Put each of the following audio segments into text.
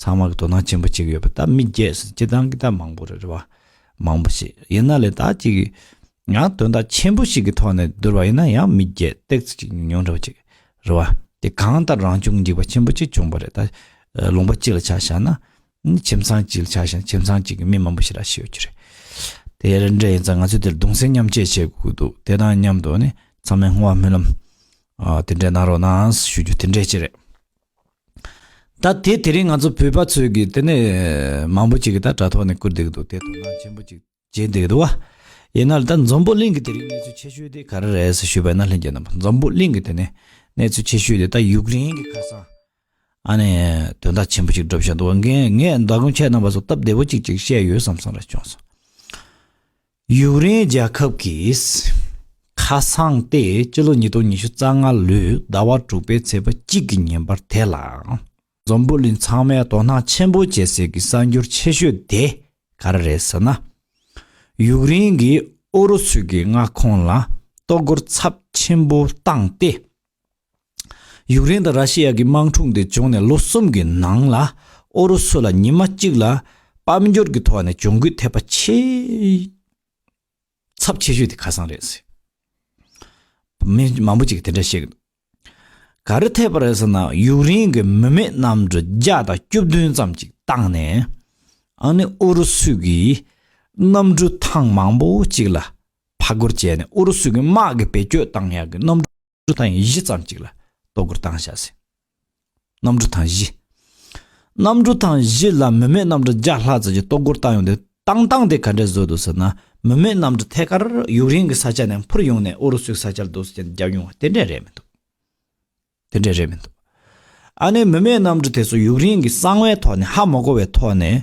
ཚང་མ་གི་དོ་སྣང་ཆེན་པོ་གཅིག་ཡོད་པ་ད་མི་རྒྱས་སུ་སྤྱི་བཏང་གི་ད་མང་པོ་རེད་རེད་བ། མང་པོ་ཞིག་ཡིན་ན་ལས་དག་ཅིག་ཡང་དོན་དག་ཆེན་པོ་ཞིག་གི་ཐོག་ནས་བསྡུར་བ་ཡིན་ན་ཡང་མི་རྒྱས་སྟེགས་ཚུལ་གཅིག་ཉུང་འདྲ་བ་ཅིག་རེད་བ། དེ་གང་ལྟར་རང་བྱུང་འཇིག་པ་ཆེན་པོ་གཅིག་བྱུང་བ་རེད་ད། ལུང་པ་གཅིག་ལ་ཆ་བཞག་ན། ཁྱིམ་ཚང་གཅིག་ལ་ཆ་བཞག་ན་ཁྱིམ་ཚང་གཅིག་གི་མི་མང་པོ་ཞིག་ར་ཞིག་ཡོད་རྒྱུ་རེད། དེ་རེད་འདྲ་ཡིན་ཙང་ང་ཚོས་དེར་གདུང་སེམས་མཉམ་བསྐྱེད་བྱེད་དགོས་ཀྱི་འདུག་དེ་དང་མཉམ་དུ་ནི་ཚང་མས་སྔོན་དབང་སྨོན་ལམ། དེ་འདྲས་གནང་རོགས་གནང་ཞུ་རྒྱུ་དེ་འདྲས་ཅིག་རེད། ད་དེ་དེ་རིང་ང་ཚོ་བོད་པ་ཚོས་ཀྱི་དེ་ནས་མང་པོ་ཅིག་གི་ད་དྲ་ཐོག་ནས་བསྐུར་བསྡད་ཀྱི་འདུག་དེ་དོ་སྣང་ཆེན་པོ་ཅིག་བྱེད་བསྡད་ཀྱི་འདུག་བ། ཡིན་ན་ལ་ད་འཛམ་བུ་གླིང་གི་དེ་རིང་གནས་ཚུལ་ཆེ་ཤོས་དེ་ག་རེ་རེད་ཟེར་ཞུས་པ་ཡིན་ན་ལྷན་རྒྱས་རྣམ་པ་འཛམ་བུ་གླིང་གི་དེ་ནས་གནས་ཚུལ་ཆེ་ཤོས་དེ་ད་ཡུཀ་རེན་གྱི་ཁ་སང་ཨ་ནེ་དོན་དག་ཆེན་པོ་ཅིག་འགྲུབ་བཞག་འདུག་བ་ངས་ངས་ཟླ་དགོང་ཁྱེད་རྣམ་པ་ཚོ་སྟབས་བདེ་བོ་ཅིག་ཅིག་བཤད་ཡོད་བསམ་བསམ་རེ་བྱུང་སོང། ཡུཀ་རེན་རྒྱལ་ཁབ་ཀྱིས་ཁ་སང་སྟེ་སྤྱི་ལོ་ཉིས་སྟོང་ཉི་ཤུ་རྩ་ལྔ་ལོའི་ཟླ་བ་དྲུག་པའི་ཚེས་པ་གཅིག་གི་ཉིན་པར་དེ་ལ་འཛམ་བུ་གླིང་ཚང་མས་དོ་སྣང་ཆེན་པོ་བྱེད་སའི་གི་གསར་འགྱུར་ཆེ་ཤོས་དེ་ག་རེ་རེད་ཟེར་ན། ཡུཀ་རེན་གྱིས་ཨུ་རུ་སུའི་གི་མངའ་ཁོངས་ལ་གཏོར་རྒོལ་ཚབས་ཆེན་པོ་བཏང་སྟེ། ཡུཀ་རེན་དང་ར་ཤི་ཡ་གི་དམག་འཁྲུག་འདི་བྱུང་ནས་ལོ་གསུམ་གྱི་ནང་ལ་ཨུ་རུ་སུ་ལ་ཉི་མ་གཅིག་ལ་དཔལ་འབྱོར་གྱི་ཐོག་ནས་གྱོང་གུད་ཐེབས་པ་ཆེས་ཚབས་ཆེ་ཤོས་དེ་ཁ་སང་རེད། མི་མང་པོ་ཅིག་གིས་དེ་འདྲ་བཤད་གི་འདུག་ག་རེ་ཐེབས་པ་རེད་ཟེར་ན་ཡུཀ་རེན་གྱི་མི་མེད་གནམ་གྲུ་བརྒྱ་དང་བཅུ་བདུན་ཙམ་ཅིག་བཏང་ནས་ཨ་ནི་ཨུ་རུ་སུ་གྱི་གནམ་གྲུ་ཐང་མང་པོ་ཅིག་ལ་ཕར་རྒོལ་བྱས་ནས་ཨུ་རུ་སུ་གྱི་དམག་གི་བེད་སྤྱོད་བཏང་ཡག་གི་གནམ་གྲུ། འབྲུ་དང་ཡང་བཞི་ཙམ་གཅིག་ལ་ལྟོ་སྒོར་བཏང་བྱ་ཟིན། གནམ་གྲུ་དང་བཞི། གནམ་གྲུ་དང་བཞི་ལ་མི་མེད་གནམ་གྲུ་བརྒྱ་ལྷག་ཙམ་གྱི་ལྟོ་སྒོར་བཏང་ཡོང་དུས་བཏང་བཏང་དེ་ག་འདྲའི་བཟོས་འདུག་ཟེར་ན་མི་མེད་གནམ་གྲུ་ཐད་ཀར་ཡུག་རེན་གྱི་ས་ཆ་ནས་འཕུར་ཡོང་ནས་ཨུ་རུ་སུའི་ས་ཆར་རྡོ་སོལ་ཅན་བརྒྱབ་ཡོང་བ་དེ་འདྲས་རེད་མི་འདུག་དེ་འདྲས་རེད་མི་འདུག་ཨ་ནེ་མི་མེད་གནམ་གྲུ་དེ་ཚོ་ཡུག་རེན་གྱི་གསང་བའི་ཐོག་ནས་ཧ་མ་གོ་བའི་ཐོག་ནས།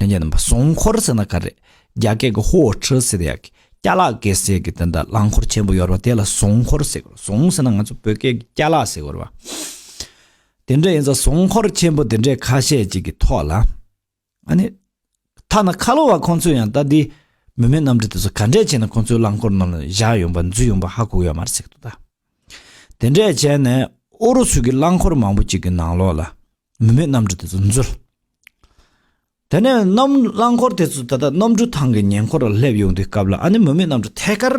ལྷན་རྒྱས་རྣམ་པ་སྲུང་འཁོར་ཟེར་ན་ག་རེ། རྒྱ་སྐད་ཀྱི་ཧོའོ་ཁྲི་ཟེར་ཡག་གི། སྐྱ་ལག་སྐད་ཟེར་གི་དེ་འདྲ་རླངས་འཁོར་ཆེན་པོ་ཡོད་རེད་པ་དེ་ལ་སྲུང་འཁོར་ཟེར་གི་རེད་སྲུང་ཟེར་ན་ང་ཚོ་བོད་སྐད་ཀྱི་སྐྱ་ལག་ཟེར་གི་རེད་པ། དེ་འདྲ་ཡིན་ས་སྲུང་འཁོར་ཆེན་པོ་དེ་འདྲའི་ཁ་ཤས་ཅིག་གི་ཐོག་ལ། ཨ་ནི། ཐ་ན་ཁ་ལོ་བ་ཁོང་ཚོས་ཡང་ལྟ་དེ། མི་མེད་གནམ་གྲུ་དེ་ཚོ་ག་འདྲས་བྱས་ན་ཁོང་ཚོའི་རླངས་འཁོར་རྣམས་ལ་བཞག་ཡོང་པ་འཛུལ་ཡོང་པ་ཧ་གོ་ཡོད་མ་རེད་ཟེར་གི་འདུག་ད། དེ་འདྲས་བྱས་ནས་ཨོ་རུ་སུ་གི་རླངས་འཁོར་མང་པོ་ཅིག་གི་ནང་ལོགས་ལ། མི་མེད་རྣམ་གྲོལ་དེ་ཚོ་འཛུལ། དེ་ནས་རྣམ་རླངས་འཁོར་དེ་ཚོ་ད་ལྟ་རྣམ་གྲོལ་ཐང་གི་ཉེ་འཁོར་ལ་སླེབས་ཡོང་དུས་སྐབས་ལ་ཨ་ནེ་མི་མེད་རྣམ་གྲོལ་ཐད་ཀར།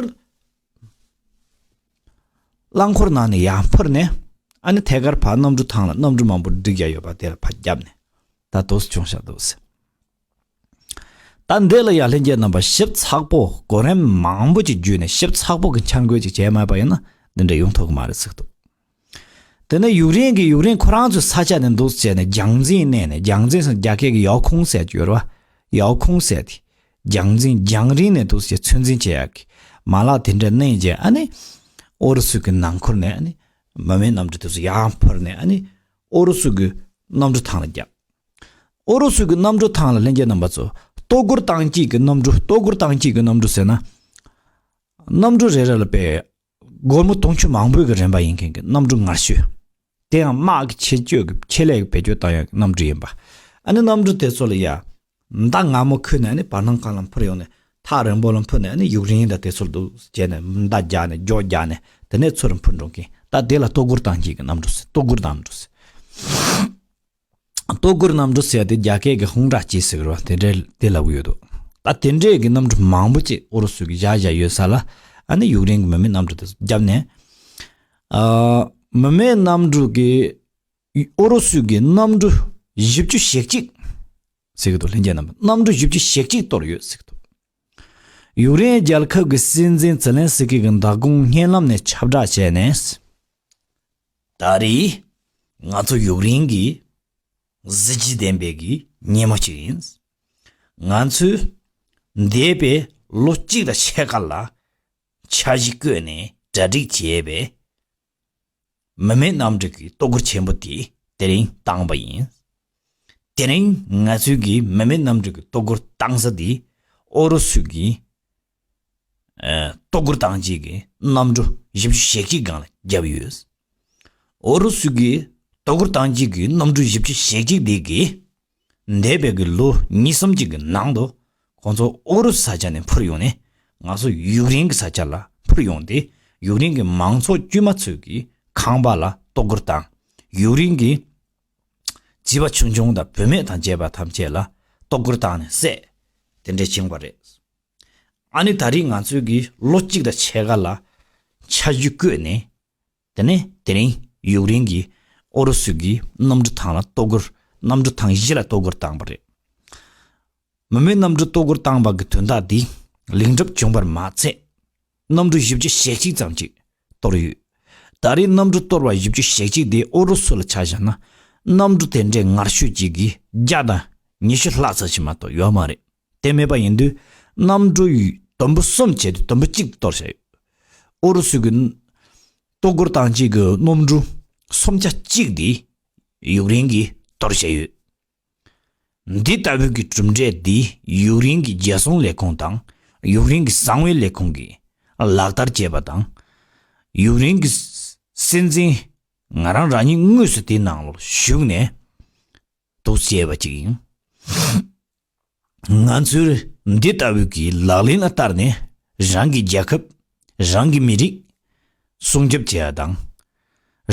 རླངས་འཁོར་ནང་ནས་ཡར་འཕུར་ནས་ཨ་ནེ་ཐད་ཀར་བར་རྣམ་གྲོལ་ཐང་ལ་རྣམ་གྲོལ་མང་པོ་འགྲིག་ཡ་ཡོད་པ་དེ་ལ་ཕར་བརྒྱབ་ནས་ད་དོགས་སུ་བྱུང་ཤག་དོགས་སུ། ད་འདི་ལ་ཡང་ལྷན་སྐྱེས་རྣམ་པ་ཞིབ་ཚགས་པོ་གོ་རིམ་མང་པོ་ཅིག་བརྒྱུད་ནས་ཞིབ་ཚགས་པོ་གི་འཆར་འགོད་ཅིག་བྱས་མེད་པ་ཡིན་ན་འདི་འདྲ་ཡོང་ཐུབ་གི་མ་རེད་ཟེར་ཐུབ། དེ་ནས་ཡུག་རེན་གྱིས་ཡུག་རེན་ཁོ་རང་ཚོའི་ས་ཆ་ནས་འདུག་ཟེར་ནས་རྒྱང་འཛིན་བསྣན་ནས་རྒྱང་འཛིན་སོང་རྒྱ་སྐད་ཀྱི་ཡའོ་ཁུང་ཟེར་གྱི་ཡོད་རེད་བ། ཡའོ་ཁུང་ཟེར་ཏེ། རྒྱང་འཛིན་རྒྱང་རིང་ནས་འདུག་ཟེར་ཚོད་འཛིན་བྱེད་ཡག་གི། མ་ལག་དེ་འདྲ་བསྣན་རྗེས་ཨ་ནི། ཨོ་རུ་སུ་གྱི་ནང་འཁོར་ནས་ཨ་ནི། མི་མེད་རྣམས་ཀྱི་དུས་སུ་ཡང་འཕུར་ནས་ཨ་ནི། ཨོ་རོ་སུ་གི་གནམ་གྲུ་ཐང་ལ་བརྒྱབ། ཨོ་རོ་སུ་གི་གནམ་གྲུ་ཐང་ལ་ལྷན་རྒྱས་རྣམ་པ་ཚོས་ལྟོ་གུར་ཐང་གཅིག་གི་གནམ་གྲུ་ལྟོ་གུར་ཐང་གཅིག་གི་གནམ་གྲུ་ཟེར་ན། གནམ་གྲུ་རེ་རེ་ལ་པའི་སྒོར་མོ་དུང་ཕྱུར་མང་པོས་གི་རན་པ་ཡིན་མཁན་གྱི་གནམ་གྲུ་ངར་ཤོས། དེ་ཡང་དམག་གི་ཆེད་སྤྱོད་ཀྱི་ཆེད་ལས་ཀྱི་བེད་སྤྱོད་བཏང་ཡག་གི་གནམ་གྲུ་ཡིན་པ། ཨ་ནི་གནམ་གྲུ་དེ་ཚོ་ལ་ཡ། མདའ་སྔ་མོ་ཁུར་ནས་བར་སྣང་ཁང་ལ་འཕུར་ཡོང་ནས་ཐག་རིང་པོ་ལ་འཕུར་ནས་ཡུག་རིང་དང་དེ་ཚོར་འདུག་ཟེར་ནས་མདའ་རྒྱག་ནས་སྒྱོགས་རྒྱག་ནས་དེ་ནས་ཚུར་འཕུར་འགྲོ་མཁན་ད་དེ་ལ་ལྟོ་གུར་དང་གཅིག་གི་གནམ་གྲུ་ཟེར་ལྟོ་གུར་གནམ་གྲུ་ཟེར། ལྟོ་གུར་གནམ་གྲུ་ཟེར་དེ་རྒྱ་སྐད་ཀྱི་ཧུང་ཀྲ་ཅི་ཟེར་བ་དེ་འདྲའི་དེ་ལབ་གི་ཡོད་འདུག་ད་དེ་འདྲའི་གི་གནམ་གྲུ་མང་པོ་ཅིག་ཨུ་རུ་སུ་གི་བཞག་བཞག་ཡོད་ས་ལ་ནི་ཡུག་རིང་གི་མི་མེད་གནམ་གྲུ་དེ་ཚོ་བརྒྱབ་ནས། མི་མེད་གནམ་གྲུ་གི། ཨུ་རུ་སུས་ཀྱི་གནམ་གྲུ་བཞི་བཅུ་ཞེ་གཅིག། ཟེར་གྱི་འདུག་ལྷན་རྒྱས་རྣམ་པས་གནམ་གྲུ་བཞི་བཅུ་ཞེ་གཅིག་གཏོར་ཡོད་ཟེར་གྱི་འདུག་ཡུཀ་རེན་རྒྱལ་ཁབ་ཀྱི་སྲིད་འཛིན་ཛེ་ལན་སི་ཀི་གིས་མདའ་དགོང་བརྙན་ལམ་ནས་ཁྱབ་བསྒྲགས་བྱས་ནས། ད་རེས་ང་ཚོ་ཡུཀ་རེན་གྱི་གཟི་བརྗིད་ལྡན་པའི་གྱི་ཉིན་མོ་ཅིག་ཡིན། ང་ཚོས་འདས་པའི་ལོ་གཅིག་དང་ཕྱེད་ཀ་ལ་འཆར་གཞི་བཀོད་ནས་གྲ་སྒྲིག་བྱས་པའི་མི་མེད་རྣམ་དྲུག་གི་བསྟོད་བཀུར་ཆེན་པོ་དེ་དེ་རིང་བཏང་བ་ཡིན། དེ་རིང་ང་ཚོས་གིས་མི་མེད་རྣམ་དྲུག་གི་བསྟོད་བཀུར་བཏང་ས་དེ་ཨོ་རུ་སུ་གིས་བསྟོད་བཀུར་བཏང་རྗེས་ཀྱི་གནམ་གྲུ་བཞི་བཅུ་ཞེ་གཅིག་སྒང་ལ་བརྒྱབ་ཡོད། ཨོ་རུ་སུ་གིས་བསྟོད་བཀུར་བཏང་རྗེས་ཀྱི་གནམ་གྲུ་བཞི་བཅུ་ཞེ་གཅིག་དེ་གིས་འདས་པའི་གི་ལོ་གཉིས་གསུམ་གཅིག་གི་ནང་དུ་ཁོང་ཚོ་ཨུ་རུ་ས་ཆ་ནས་འཕུར་ཡོང་ནས་ང་ཚོ་ཡུག་རེན་གི་ས་ཆ་ལ་འཕུར་ཡོང་སྟེ་ཡུག་རེན་གི་མང་ཚོགས་དཀྱུས་མ་ཚོས་གི་ཁང་པ་ལ་ལྟོ་སྐོར་དང་ཡུག་རེན་གི་བྱིས་པ་ཆུང་ཆུང་དང་བུད་མེད་དང་བཅས་པ་ཐམས་ཅད་ལ་ལྟོ་སྐོར་བཏང་ནས་བསད་དེ་འདྲས་བྱུང་བ་རེད། ཨ་ནི་ད་རིས་ང་ཚོས་གི་ལོ་གཅིག་དང་ཕྱེད་ཀ་ལ་ཆ་རྒྱུས་བསྐོས་ནས། དེ་ནས་དེ་རིང་ཡུཀ་རེན་གྱིས་ཨུ་རུ་སུ་གྱི་གནམ་གྲུ་ཐང་ལ་གཏོར་རྒོལ་གནམ་གྲུ་ཐང་བཞི་ལ་གཏོར་རྒོལ་བཏང་བ་རེད། མི་མེད་གནམ་གྲུ་གཏོར་རྒོལ་བཏང་བ་གི་དོན་དག་དེས་ལེགས་འགྲུབ་བྱུང་བར་མ་ཚད། གནམ་གྲུ་བཞི་བཅུ་ཞེ་གཅིག་ཙམ་ཅིག་གཏོར་ཡོད། ད་རེས་གནམ་གྲུ་གཏོར་བ་བཞི་བཅུ་ཞེ་གཅིག་དེ་ཨུ་རུ་སུ་ལ་ཆ་བཞག་ན་གནམ་གྲུ་དེ་འདྲའི་ངར་ཤུགས་ཀྱི་གིས་བརྒྱ་དང་ཉི་ཤུ་ལྷག་ཙམ་ཞིག་མ་གཏོགས་ཡོད་མ་རེད། དེ་མེད་པ་ཡིན་དུས་གནམ་གྲུ་དུམ་བུ་གསུམ་བྱས་ཏེ་དུམ་བུ་གཅིག་གཏོར་བྱས་ཡོད། ཨུ་རུ་སུ་གྱི་ལྟོ་སྒོར་ཐང་གཅིག་གི་གནམ་གྲུ་སུམ་ཆ་གཅིག་དེ་ཡུག་རེན་གྱིས་གཏོར་བྱས་ཡོད། འདི་ལྟ་བུའི་གྱི་གྲུབ་འབྲས་དེ་ཡུག་རེན་གྱི་རྒྱལ་སྲུང་ལས་ཁུངས་དང་ཡུག་རེན་གྱི་གསང་བའི་ལས་ཁུངས་ཀྱིས་ལག་བསྟར་བྱས་པ་དང། ཡུག་རེན་གྱི་སྲིད་འཛིན་ང་རང་རང་ཉིད་དངོས་སུ་དེའི་ནང་ལོགས་ཞུགས་ནས། དུ་བྱས་པ་ཅིག་ཡིན། ང་ཚོས་འདི་ལྟ་བུའི་གྱི་ལག་ལེན་ལ་བསྟར་ནས་རང་གི་རྒྱལ་ཁབ་རང་གི་མི་རིགས་སྲུང་སྐྱོབ་བྱས་པ་དང།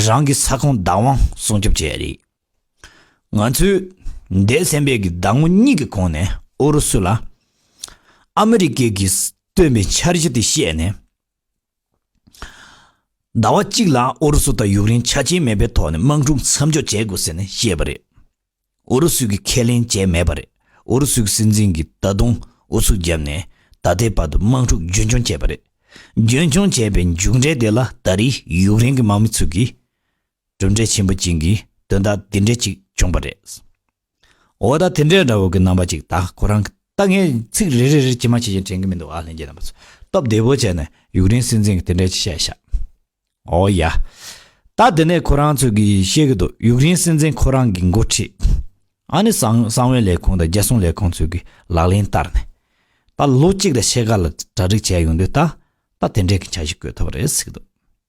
རང་གི་ས་ཁོངས་བདག་དབང་སྲུང་སྐྱོབ་བྱས་པ་རེད། ང་ཚོས་འདས་གསན་པའི་གྱི་ཟླ་ངོ་གཉིས་ཀྱི་གོང་ནས་ཨུ་རུ་སུ་ལ་ཨ་མི་རི་ཀས་གྱི་བཏོན་པའི་འཆར་གཞི་དེ་བཤད་ནས། ཟླ་བ་གཅིག་ལ་ཨུ་རུ་སུ་དང་ཡུཀ་རེན་ཆ་རྐྱེན་མེད་པའི་ཐོག་ནས་དམག་འཁྲུག་མཚམས་འཇོག་བྱེད་དགོས་ཟེར་ནས་བཤད་པ་རེད། ཨུ་རུ་སུས་ཀྱིས་ཁས་ལེན་བྱས་མེད་པ་རེད། ཨུ་རུ་སུའི་སྲིད་འཛིན་གྱིས་ད་དུང་ཨུ་ཚུགས་བརྒྱབ་ནས་ད་ལྟའི་བར་དུ་དམག་འཁྲུག་རྒྱུན་འཁྱོངས་བྱས་པ་རེད། རྒྱུན་འཁྱོངས་བྱས་པའི་མཇུག་འབྲས་དེ་ལ་ད་རེས་ཡུཀ་རེན་གྱི་དམག་མི་ཚུལ་གྱིས་གྲུབ་འབྲས་ཆེན་པོ་བྱིན་གྱིས་དོན་དག་འདི་འདྲའི་ཅིག་བྱུང་པ་རེད། འོ་ད་དེ་འདྲའི་འདྲ་བོ་གི་རྣམ་པ་ཅིག་ད་ཁོ་རང་གི་ད་ངས་ཚིག་རེ་རེ་རེ་ཇི་མ་ཇི་བཞིན་དྲན་གི་མི་འདུག་ཨ་ལྷན་རྒྱས་རྣམ་པ་ཚོས་སྟོབས་བདེ་བོ་བྱས་ནས་ཡུག་རེན་སྲིད་འཛིན་གི་དེ་འདྲའི་ཅིག་བཤད་ཤག་འོ་ཡ། ད་དེ་ནས་ཁོ་རང་ཚོས་གི་བཤད་གི་འདུག་ཡུག་རེན་སྲིད་འཛིན་ཁོ་རང་གི་འགོ་ཁྲིད་ཨ་ནི་གསང་བའི་ལས་ཁུངས་དང་རྒྱལ་སྲུང་ལས་ཁུངས་ཚོས་གི་ལག་ལེན་བསྟར་ནས་ད་ལོ་གཅིག་ལ་ཕྱེད་ཀ་ལ་གྲ་སྒྲིག་བྱས་ཡོང་དུས་ད་ད་དེ་འདྲའི་གི་བྱ་གཞི་བཀོད་ཐུབ་པ་རེད་ཟེར་གི་འདུག།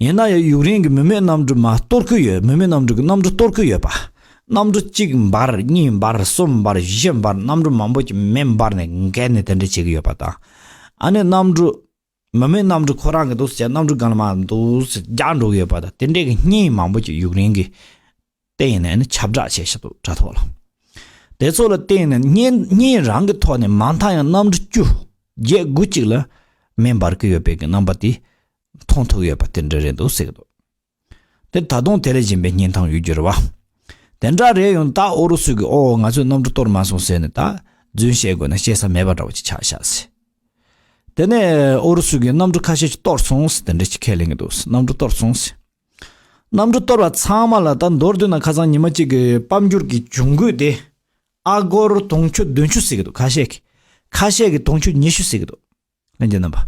ཡིན་ན་ཡང་ཡུག་རེན་གྱི་མི་མེད་གནམ་གྲུ་མ་གཏོར་གི་ཡོད་མི་མེད་གནམ་གྲུ་གི་གནམ་གྲུ་གཏོར་གི་ཡོད་པ། གནམ་གྲུ་གཅིག་འབར་གཉིས་འབར་གསུམ་འབར་བཞི་འབར་གནམ་གྲུ་མང་པོ་ཀྱི་མེ་འབར་ནས་འགལ་ནས་དེ་འདྲས་བྱེད་ཀྱི་ཡོད་པ་དང། ཨ་ནེ་གནམ་གྲུ། མི་མེད་གནམ་གྲུ་ཁོ་རང་གི་འདུག་ཟེར་གནམ་གྲུ་གང་ལ་མ་འདུག་ཟེར་རྒྱག་འགྲོ་གི་ཡོད་པ་དང་དེ་འདྲས་ཀྱི་རྙིང་མང་པོ་ཀྱི་ཡུག་རེན་གྱི། བརྟེན་ནས་ནི་ཁྱབ་བསྒྲགས་བྱེད་ཞིང་དུ་དྲ་ཐོག་ལ། དེ་ཚོ་ལ་བརྟེན་ནས་ཉིན་གཉིས་རང་གི་ཐོག་ནས་མ་མཐའ་ཡང་གནམ་གྲུ་བཅུ་བརྒྱད་དགུ་གཅིག་ལ་མེ་འབར་གྱི་ཡོད་པའི་གི་རྣམ་པ་དེ་མཐོང་ཐུབ་ཡོད་པ་དེ་འདྲ་རེད་འདུག་ཟེར་གྱི་འདུག་དེ་ད་དུང་དེ་ལས་གཞན་པའི་རྙེན་ཐང་ཡོད་རྒྱུ་རེད་བ། དེ་འདྲ་རེད་ཡོང་ད་ཨོ་རུ་སུ་གིས་ཨོ་ང་ཚོས་གནམ་གྲུ་གཏོར་མ་སོང་ཟེར་ནས་ད་རྫུན་བཤད་དགོས་ན་བཤད་ས་མེད་པ་འདྲ་བོ་ཅིག་ཆགས་ཤག་ཟེར། དེ་ནས་ཨོ་རུ་སུ་གིས་གནམ་གྲུ་ཁ་ཤས་ཀྱི་གཏོར་སོང་ཟེར་དེ་འདྲ་ཅིག་ཁས་ལེན་གྱི་འདུག་གནམ་གྲུ་གཏོར་སོང་ཟེར། གནམ་གྲུ་གཏོར་བ་ཚང་མ་ལ་ད་མདོར་བསྡུ་ན་ཁ་སང་ཉི་མ་གཅིག་གི་སྤམ་འགྱུར་གྱི་འབྱུང་ཁུངས་དེ། ཨ་སྒོར་དུང་ཕྱུར་བདུན་ཅུ་ཟིག་གི་འདུག་ཁ་ཤས་ཀྱིས་ཁ་ཤས་ཀྱིས་དུང་ཕྱུར་ཉི་ཤུ་ཟིག་གི་འདུག་ལན་གྱི་རྣམ་པ།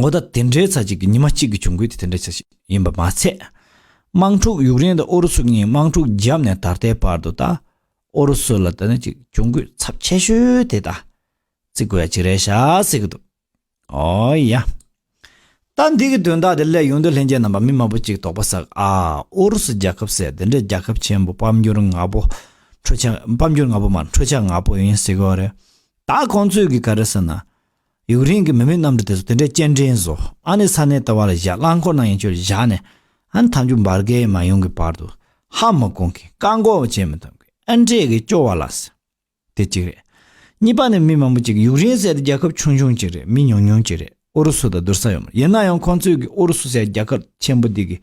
འོ་ད་དེ་འདྲའི་ཚ་གཅིག་གི་ཉི་མ་གཅིག་གི་འབྱུང་ཁུངས་དེ་དེ་འདྲ་ཆགས་ཤིག་ཡིན་པ་མ་ཚད། དམག་འཁྲུག་ཡུག་རེན་དང་ཨུ་རུ་སུ་གཉིས་དམག་འཁྲུག་བརྒྱབ་ནས་ད་ལྟའི་བར་དུ་ད་ཨུ་རུ་སུ་ལ་ད་ནི་གཅིག་འབྱུང་ཁུངས་ཚབས་ཆེ་ཤོས་དེ་ད་བརྩི་དགོས་ཡ་གཅིག་རེད་ཤག་ཟེར་གྱི་འདུག། ཨོ་ཡ། ད་འདི་གི་དོན་དག་དེ་སླད་ཡོང་དུས་ལྷན་རྒྱས་རྣམ་པ་མི་མང་པོ་གཅིག་དོགས་པ་ཟག་ཨ། ཨུ་རུ་སུ་རྒྱལ་ཁབ་ཟེར་དེ་འདྲ་རྒྱལ་ཁབ་ཆེན་པོ་དཔལ་འབྱོར་ནག་པོ། འཕྲོ་ཆ། དཔལ་འབྱོར་ནག་པོ་མ་འཕྲོ་ཆ་ནག་པོ་ཡིན་ཟེར་གི་རེད། ད་ཁོང་ཚོས་གི་ག་རེ་ཟེར་ན། ཡུག་རེན་གི་མི་མེད་གནམ་གྲུ་དེ་ཚོ་དེ་འདྲའི་སྐྱེལ་འདྲེན་བཟོ་ཨ་ནི་ས་གནས་ལྟ་བ་ལ་བཞག་རླངས་འཁོར་ནང་ཡན་ཆོད་བཞག་ནས། ཨ་ནི་ཐམས་ཅུག་འབར་དགའི་མ་ཡོང་གི་བར་དུ། ཧ་མི་གོང་གི་བཀའ་འགོག་བྱེད་མི་ཐུབ་གི་ཨ་འདྲས་གི་སྐྱོ་བ་ལ་ཟེར། དེ་གཅིག་རེད། གཉིས་པ་ནི་མི་མང་པོ་གཅིག་ཡུག་རེན་ཟེར་ཏེ་རྒྱལ་ཁབ་ཆུང་ཆུང་གཅིག་རེད་མི་ཉུང་ཉུང་གཅིག་རེད་ཨུ་རུ་སུ་དང་བསྡུར་ས་ཡོད་མ་རེད་ཡིན་ན་ཡང་ཁོང་ཚོས་ཀྱིས་ཨུ་རུ་སུ་ཟེར་རྒྱལ་ཁབ་ཆེན་པོ་འདི་གི་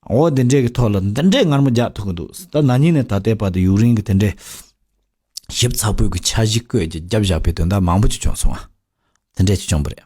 འོ་དེ་འདྲའི་གི་ཐོག་ལ་འདི་འདྲའི་ངར་མོ་རྒྱག་ཐུབ་ཀྱི་འདུག་ད་ན་ཉིན་ནས་ད་ལྟའི་བར་དུ་ཡུག་རེན་གྱི་དེ་འདྲའི་ཞིབ་ཚགས་པོའི་གི་འཆར་གཞི་བཀོད་ཀྱི་རྒྱབ་བཞག་པའི་དོན་དག་མང་པོ་ཅིག་བྱུང་སོང་བ་དེ་འདྲས་ཅིག་བྱུང་པོ་རེད།